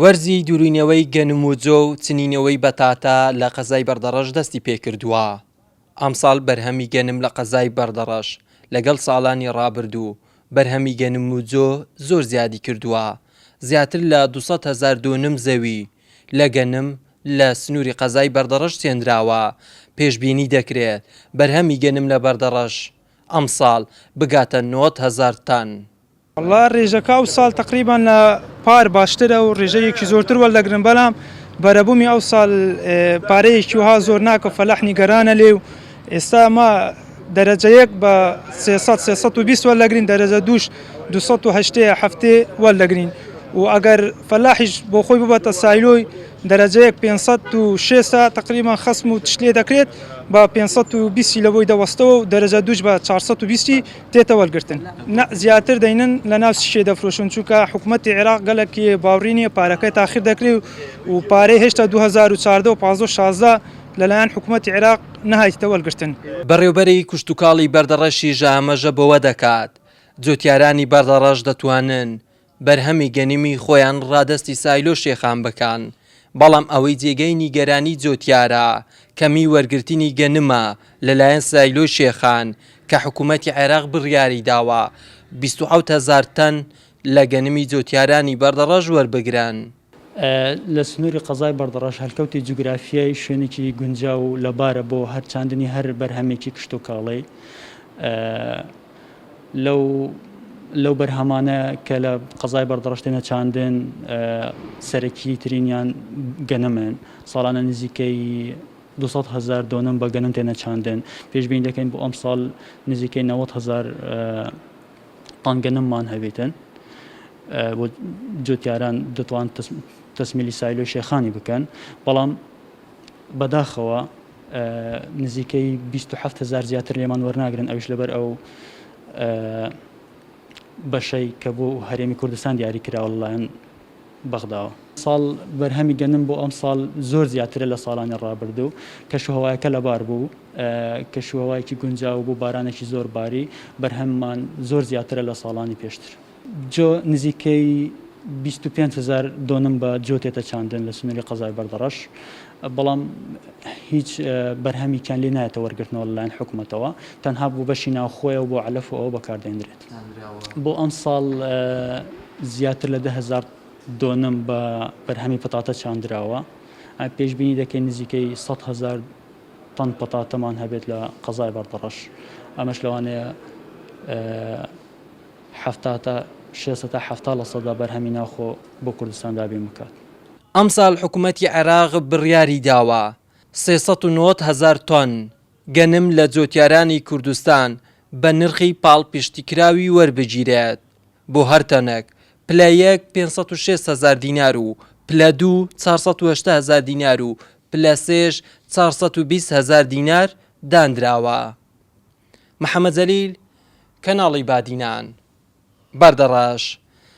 وەرزی دورینەوەی گەنم و جۆ و چنینەوەی بەتاتا لە قەزای بەردەڕەش دەستی پێکردووە، ئەمساڵ بەرهەمی گەنم لە قەزای بەردەڕەش لەگەڵ ساڵانی رابردوو بەرهەمی گەنم و جۆ زۆر زیادی کردووە، زیاتر لە دوو سەد هەزار دۆنم زەوی لە گەنم لە سنوری قەزای بەردەڕەش چێنراوە، پێشبینی دەکرێت بەرهەمی گەنم لە بەردەڕەش ئەمساڵ بگاتە نۆد هەزار تەن. وەڵا ڕێژەکە ئەوساڵ تەقریبەن لە پار باشترە و ڕێژەیەکی زۆرتر وەردەگرن بەلام بەرەبوومی ئەوساڵ پارەیەکی وەها زۆر ناکە فەلاح نیگەرانە لێ و ئێستا ما دەرەجەیەک بە 300 320 وەردەگرین دەرەجە دووش 280 هەفتێ وەردەگرین و ئەگەر فەلاحیش بۆ خۆی ببەتە سایلۆی دەرەجەیەک 500 و 600 تقریبان خەسم و تشت لێ دەکرێت بە 520 لە بۆی دەوەستەوە و دەرەجە دووش بە 420 دێتە وەرگرتن نا زیاتر دەینن لە ناو سیشێ دەفرۆشن چونکە حکوومەتی عێراق گەلک باوڕی نییە پارەکەی تاخیر دەکری و پارەی هێشتا 2014 و 1516 لەلایەن حکوومەتی عێراق نەهایتە وەرگرتن. بەڕێوبەری کشتوکاڵی بەردەڕەشی ژەهەمەژە بۆوە دەکات، جوتیارانی بەردەڕەش دەتوانن بەرهەمی گەنمی خۆیان ڕادەستی سایلۆ شێخان بکەن، بەڵام ئەوەی جێگای نیگەرانی جۆتیارە کەمی وەرگرتنی گەنمە لەلایەن سایلۆی شێخان کە حکوومەتی عێراق بڕیاری داوە بیست و حەوت هەزار تەن لە گەنمی جۆتیارانی بەردەڕەش وەربگرن. لە سنووری قەزای بەردەڕەش هەلکەوتی جوگرافیای شوێنێکی گونجاو و لەبارە بۆ هەرچاندنی هەر بەرهەمێکی کشتوکاڵی لەو لەو بەرهەمانە کە لە قەزای بەردەڕشتێنە چاندن سەرەکی ترینیان گەنمن ساڵانە نزیکەی 200 هزار دۆنم بە گەنم تێنە چاندن پێشبین دەکەین بۆ ئەم ساڵ نزیکەی 90 هزار تانگە نممان هەبیتن و جوتیاران دەتوان تەسمیلی سایلۆی شێخانی بکەن بەڵام بەداخەوە نزیکەی 27 هزار زیاتر لێمان وەرناگرن ئەوش لەبەر ئەو بەشەی کە بۆ هەرێمی کوردستان دیاری کراوە لەلایەن بەغداوە. ساڵ بەرهەمی گەنم بۆ ئەمساڵ زۆر زیاترە لە ساڵانی ڕابردوو، کەشوهەوایەکە لەبار بوو، کەشوهەوایەکی گونجاو بوو، بارانێکی زۆر باری، بەرهەممان زۆر زیاترە لە ساڵانی پێشتر. جۆ، نزیکەی بیست و پێنج هەزار دۆنم بە جۆ تێتە چاندن لە سنووری قەزای بەردەڕەش، بەڵام هیچ بەرهەمیکیان لێ نایەتە وەرگرتنەوە لەلایەن حکومەتەوە، تەنها بۆ بەشی ناوخۆیە و بۆ عەلەف و ئەوە بەکاردێنرێت. دانراوە. بۆ ئەمساڵ زیاتر لە دە هەزار دۆنم بە بەرهەمی پەتاتە چاندراوە. پێشبینی دەکەین نزیکەی سەد هەزار تەن پەتاتەمان هەبێت لە قەزای بەردەڕەش. ئەمەش لەوانەیە حەفتا تا شێست سەد تا حەفتا لە سەدا بەرهەمی ناوخۆ بۆ کوردستان دابین بکات. ئەمساڵ حکومەتی عێراق بڕیاریداوە سێ سەد و نەوەد هەزار تۆن گەنم لە جۆتیارانی کوردستان بە نرخی پاڵپشتیکراوی وەربگیرێت بۆ هەر تەنەک، پلە یەک پێنج سەد و شەست هەزار دینار و پلە دوو چوار سەد و هەشتا هەزار دینار و پلە سێش چوار سەد و بیست هەزار دینار دانراوە. محەمەد جەلیل، کەناڵی بادینان. بەردەڕەش.